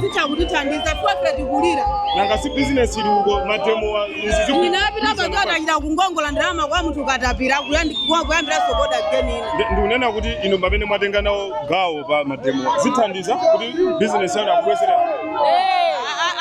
zitha kutithandiza chifukwa ife tikulira nanga si bizinesi ili uko mademowa zinapita pachoti achita kungongola ndalama kwa munthu wakatapira kuyandi- kwa- kuyambiranso oda geni ina Ndi- ndikunena kuti inu pamene mwatenga nawo gawo pa mademowa zithandiza kuti bizinesi yanu akubwezerani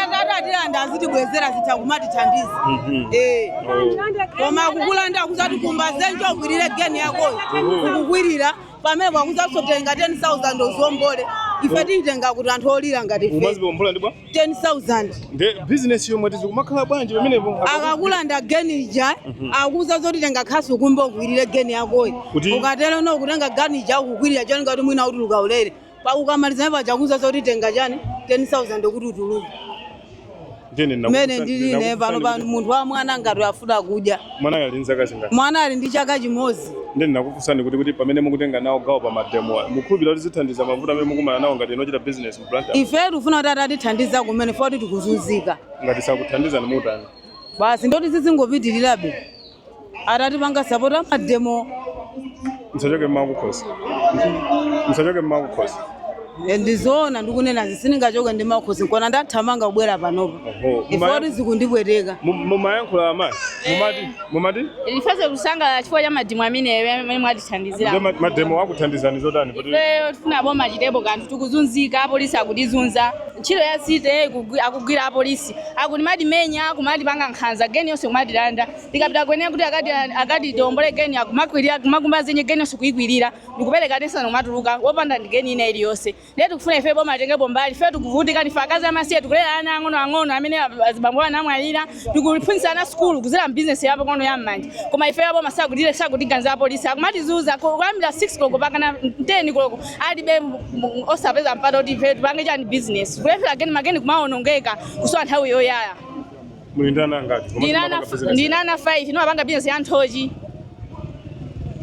akatilanda azitibwezera zitha kumatithandiza Eh. koma kukulanda kuza zoti kumba dzenje ukwirire geni yakoyo kukwirira pamenepo akuuzanso tenga 10,000 uziwombole ife tiitenga kuti anthu olira ngati ife umaziombola ndi bwa 10,000 nde bizinesi yomwe timadzikomokera bwanji pamenepo akakulanda geni ija akuuza zoti tenga khasu ukumbe ukwirire geni yakoyi Kuti- ukatero no kutenga geni ija kukwirira chonga kuti mwina utuluka ulere Pa ukamaliza paja akuuza zoti tenga chani 10000 kuti utuluke. Nde ndinakufunsa- Mene ndili ine ndinakusa pano ndikuti- pano munthu wa mwana ngati afuna kudya. Mwana ali ndi zaka zingati? Mwana ali ndi chaka chimodzi. Nde ndinakufunsani kuti kuti pamene mukutenga nawo gawo pa mademo awa, mukhulupirira kuti zithandiza mavuto amene mukumana nawo ngati inu ochita business mu Blantyre? Ife tikufuna kuti atatithandiza kumene poti tikuzunzika. Ngati sakuthandizani mutani? Basi ndoti zizingopitirirabe. atatipanga sapota mademo msachoke mmakukhosi msachoke mmakukhosi ndizoona ndikunenazi sindingachoke ndi mmakukhosi nkuona ndathamanga kubwera panopa Oho, poti mumaya- zikundipweteka Mu- mumayankhula amayi mumati mumati Ndifuna kusangalala chifukwa cha mademo ameneyo amene mwatithandizira. Nde ma- mademo akuthandizani zotani kuti Ifeyo tifuna boma chitepo kanthu tikuzunzika apolisi akutizunza ntchito ya city akugwira apolisi apolisi akumatimenya kumatipanga nkhanza geni yonse kumatilanda tikapita kukanena kuti akati akati tiombole geni akumakwirira kumakumba dzenje geni yonse kuikwirira ndikupereka ten thousand kumatuluka wopanda ndi geni ina iliyonse ndiye tikufuna ife boma atengepo mbali ife tikuvutika ndife akazi amasiye tikulera ana ang'ono ang'ono amene ab- azibambo awo anamwalira tikuphunzitsa ana sukulu kuzera mbizinesi yapo konko ya mmanja koma ife boma sakutire sakutiganza apolisi akumatizunza kuyambira 6 koloko pakana 10 koloko alibe osapeza mpata kuti ife tipange chani business kulephera geni mageni kumaonongeka kusowa nthawi yoyaya muli ndi ana angati ndi ana 5 ndimapanga business ya nthochi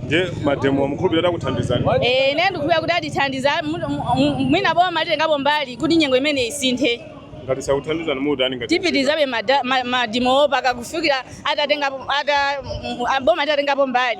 nde mademo mukhulupirira akuthandizani eh ine ndikukhulupirira kuti atithandiza mwina boma litengapo mbali kuti nyengo imeneyi isinthe ngati sakuthandizani mutani ngati tipitizabe mademowo mpaka kufikira atatengapo ata boma atatengapo mbali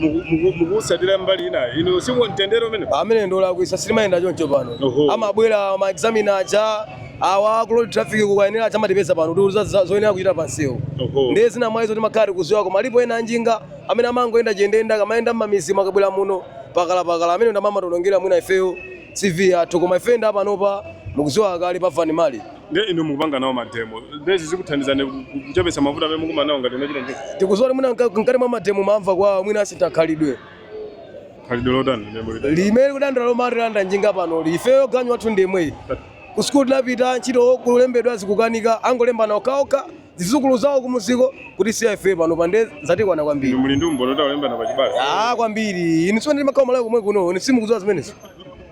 muku- muku- mukusatsatira mbali ina inu si mtendere umene amene ndolakwitsa sitimayenda choncho pano Oho. amabwera ma examiner aja awa ku road traffic kukanena aja amatipeza pano kuti za- za- zoyenera kuchita pansewu Oho. ndiye zina mwa izo timakhala tikudziwa koma alipo ena anjinga amene amangoyenda chiyendeyende akamayenda mmamidzimu akabwera muno pakalapakala amenewo ndi amene amationongera mwina ifeyo cv yathu koma ife a panopa mukudziwa kale pafani mali Ndiye inu mukupanga nawo mademo. Ndiye izi zikuthandizani bwanji ku- ku- kuchepetsa mavuto amene mukumana nawo ngati anachita njinga. tikuziwa kuti mwina mka- mkati mwa mademo mumva kapena mwina asintha khalidwe Khalidwe lotani ndiye mulida. limene tikudandaula lomatilanda njinga pano ifeyo ganyu wathu ndi womwewu ku sukulu tinapita ntchito kulembedwa zikukanika angolembana okhaokha zizukulu zawo kumuziko kuti siya ife pano pande zatikwana kwambiri Inu muli ndi umboni kuti akulembana pa chibale. Ah, kwambiri inu si mumakhala malawi komwe kuno inu simukuziwa zimenezo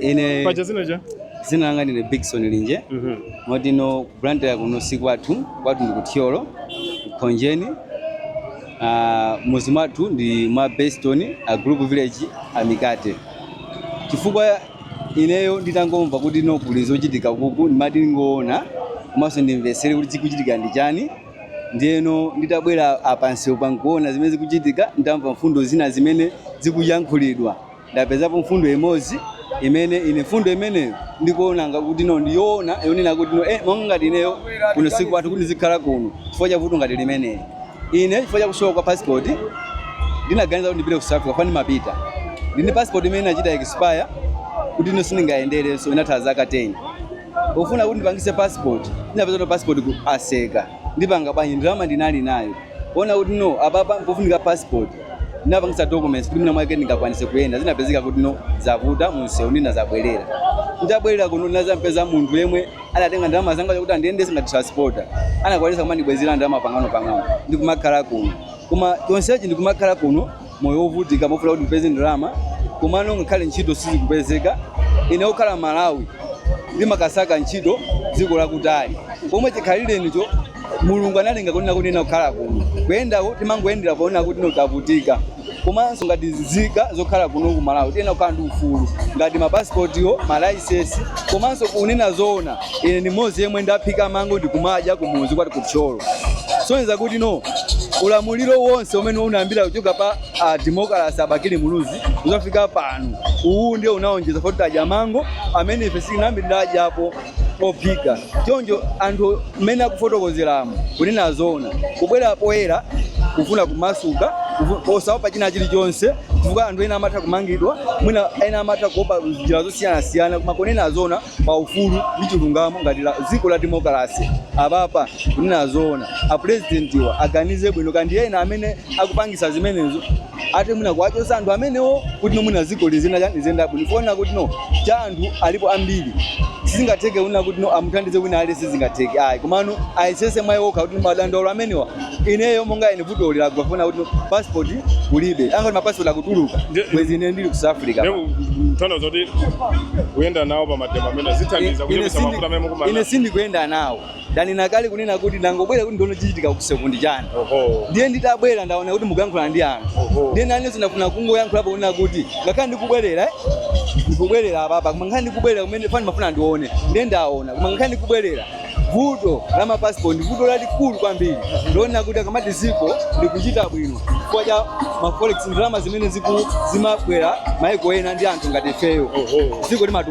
ine zina langa ndine bigson linje moti no ku blantyre kuno si kwathu kwathu ndi kuthyolo khonjeni Ah, muzi mwathu ndi mwa beston a group village amikate chifukwa Ineyo nditangomva kuti no kuli zochitika kuku ndimati ndikaone komanso ndimvetsere kuti chikuchitika ndi chani ndiyeno nditabwera apa pansi pankuona zimene zikuchitika ndamva mfundo zina zimene zikuyankhulidwa ndapezapo mfundo imodzi imene ine mfundo imeneyo ndikuona ngati kuti no ndiyoona yonena kuti no eh, monga ngati ineyo kuno sikwathu kuti ndizikhala kuno chifukwa cha vuto ngati limeneli Ine chifukwa cha kusowa kwa passport ndinaganiza kuti ndipite ku South Africa komwe ndimapita. Ndili ndi passport imene inachita expire kuti ino sindingayenderenso inatha zaka 10. Pofuna kuti ndipangise passport, ndinapeza kuti passport atseka. Ndipanga bwanji ndalama ndinali nayo. Kuona kuti no apapa pofunika passport. Ndinapangisa documents kuti mwina mwake ndingakwanise kuyenda. Zinapezeka kuti no zavuta munsewu ndinazabwerera. Nditabwerera kuno ndinazampeza munthu yemwe adatenga ndalama zanga kuti andiyendese ngati transporter anakwanisa kumandibwezera ndalama pang'ono pang'ono ndikumakhala kuno koma chonsechi ndikumakhala kuno moyo wovutika mofuna kuti ndipeze ndalama komano ngakhale ntchito sizikupezeka ine okhala malawi ndimakasaka ntchito dziko lakutali pomwe chikhalire nicho mulungu analenga kunena kuti ine kukhala kuno kuyendako timangoyendera poona kuti no tavutika komanso ngati zika zokhala kuno ku malawi tiyenera kukhala ndi ufulu ngati mapasipotiwo malaisesi komanso kunena zoona ine ndi mmodzi yemwe ndaphika mango ndikumadya kumuzi kwathu kuthyolo kusonyeza kuti no ulamuliro wonse umene unayambira kuchoka pa a demokalasi abakili muluzi kuzafika pano uwu ndiye unaonjeza foti tadya mango amene ife sitinayambe tadyapo ophika choncho anthu mmene akufotokozeramo kunena zoona kubwera poyera kufuna kumasuka kufu- osaopa china chilichonse chifukwa anthu ena amatha kumangidwa mwina ena amatha kuopa njira zosiyanasiyana koma kunena zoona pa ufulu ndi chilungamo ngati dziko la demokarasi apapa kunena zoona apurezidentiwa aganize bwino kandi ena amene akupangisa zimenezo ate mwina kuwachosa anthu amenewo kuti no mwina ziko zinazake ziyenda bwino kuona kuti no cha anthu alipo ambiri sizingatheke kunena kuti no amuthandize wina aliyense sizingatheke ayi komano ayesese mwayi wokha kuti madandaulo amenewa ineyo monga ine vuto lili lakufuna kuti no passport kulibe anakati mapassport akutuluka Nde- bwezi ine ndili ku South Africa Leo mtanda zoti kuyenda nawo pa mademo amene zithandiza kuchepetsa mafuta amene mukumana sindikuyenda nawo ndanena kale kunena kuti ndangobwera kuti ndione chichitika kuseku ndi chani Oho. ndiye nditabwera ndaona kuti mukuyankhula ndi anthu Oho. ndiye nanenso ndafuna kungoyankhulapo kunena kuti ngakhale ndikubwerera eh, ndikubwerera apapa koma ngakhale ndikubwerera kumene ndimafuna ndione ndiye ndaona koma ngakhale ndikubwerera vuto la mapasipoti ndi vuto lalikulu kwambiri ndinena kuti akamati ziko likuchita bwino chifukwa cha maforex ndalama zimene ziku- zimabwera maiko ena ndi anthu ngati ifeyo Oho. ziko limatu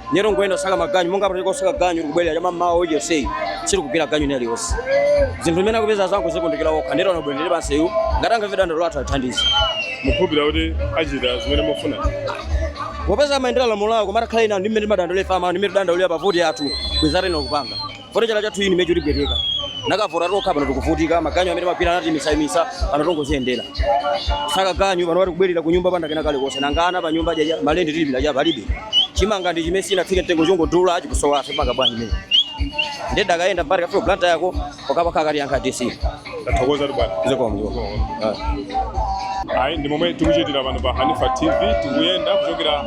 Nde tongoyenda kosaka maganyu monga pano tikosaka ganyu tikubwerera chammamawa uja yonseyi sitikugwira ganyu ina iliyonse zinthu zimene akupezazo akuzikundikira okha nde tabwerera pansewu ngati angamve dandaulo lathu atithandize mukukhulupirira kuti achita zimene mufuna popeza amayendera lamulo lawo koma atakhala ine ndi mmene timadandaulira amamva mmene tidandaulira pa voti yathu kwezarena kupanga Funa chala chathu ichi chikupweteka. Tinakavota tokha pano tikuvutika maganyu amene timapita anatiimitsaimitsa pano tongoziyendera. Kusaka ganyu panopa tikubwerera ku nyumba popanda kena kalikonse nanga ana pa nyumba jaja malendi tilipira ja palibe. Chimanga ndi chimene chinafika mtengo chongodula chikusowa ife tipanga bwanji mene. Nde tikayenda mpaka tikafika Blantyre yako wakapakha akatiyankha DC. Tathokoza bwana. zikomo zikomo Ah. Ayi ndi momwe tikuchitira pano pa Hanifa TV tikuyenda kuchokera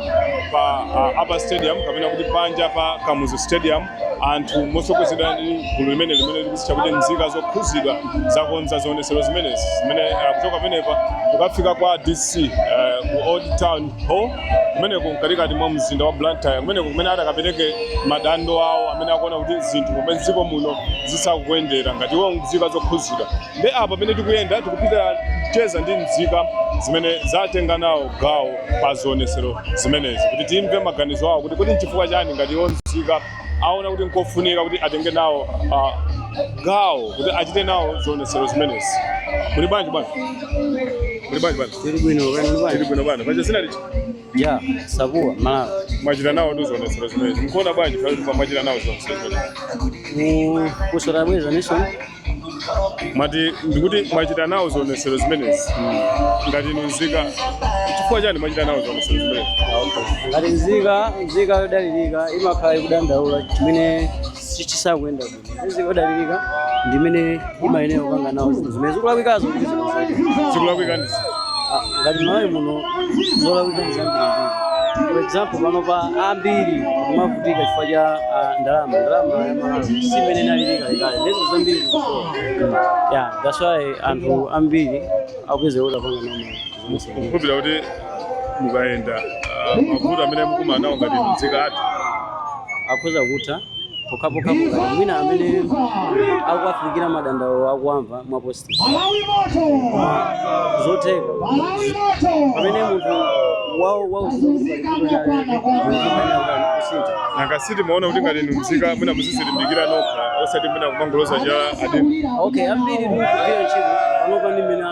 pa uh, Upper Stadium kapena kuti panja pa Kamuzu Stadium anthu motsogozedwa ndi gulu limene limene likuzitcha kuti nzika zokhuzidwa zakonza zionesero zimenezi zimene uh, kuchoka pamenepa kukafika kwa DC uh, ku Old Town Hall kumeneko mkatikati mwa mzinda wa Blantyre kumeneko kumene atakapereke madandaulo awo amene akuona kuti zinthu mommuno mdziko muno zisakuyendera ngati iwo nzika zokhuzidwa nde apa pamene tikuyenda tikupita kucheza ndi nzika zimene zatenga nawo gawo pa zionesero zimenezi kuti timve maganizo awo kuti kodi nchifukwa chani ngati iwo nzika aona kuti nkofunika kuti atenge nawo uh, gawo kuti achite nawo zionesero zimenezi muli bwanji bwana muli bwanji bwana tili bwino bwana paja zina lija ya sakuwa malawi mwachita nawo ndi zionetsero zimenezi mukuona bwanji pamene pa- mwachita nawo zionetsero zimenezi kusota bweza nation mwati ndikuti mwachita nawo zionetsero zimenezi ngati inu nzika chifukwa chani mwachita nawo zionetsero zimenezi ngati nzika nzika yodalirika imakhala ikudandaula chimene chisakuyenda yodalirika ndimene imayenera kupanga nawo zinthu zimene zikulakwikazo kuti zinazo zikulakwika ndi ziti ngati malawi muno zolakwika ndi zambiri for example panopa ambiri akumavutika chifukwa cha ah, ndalama ndalama ya malawi simmene inaliri kalekale nde zambiri zikusowa ya that's why anthu ambiri akupezeka kuti apanga nawo malawi mukukhulupirira kuti mukayenda ah, mavuto amene mukumana nawo ngati nzika atha akhoza kutha pokhapokha ngati mwina amene akuwafikira madandaulo akuwamva mwa positive zotheka pamene munthu wawo wausinja nanga simumaona kuti ngati inu mzika mwina muzizilimbikira nokha osati mwina kumangoloza chala adindo okay ambiri tikugwira ntchito panopa ndi mmene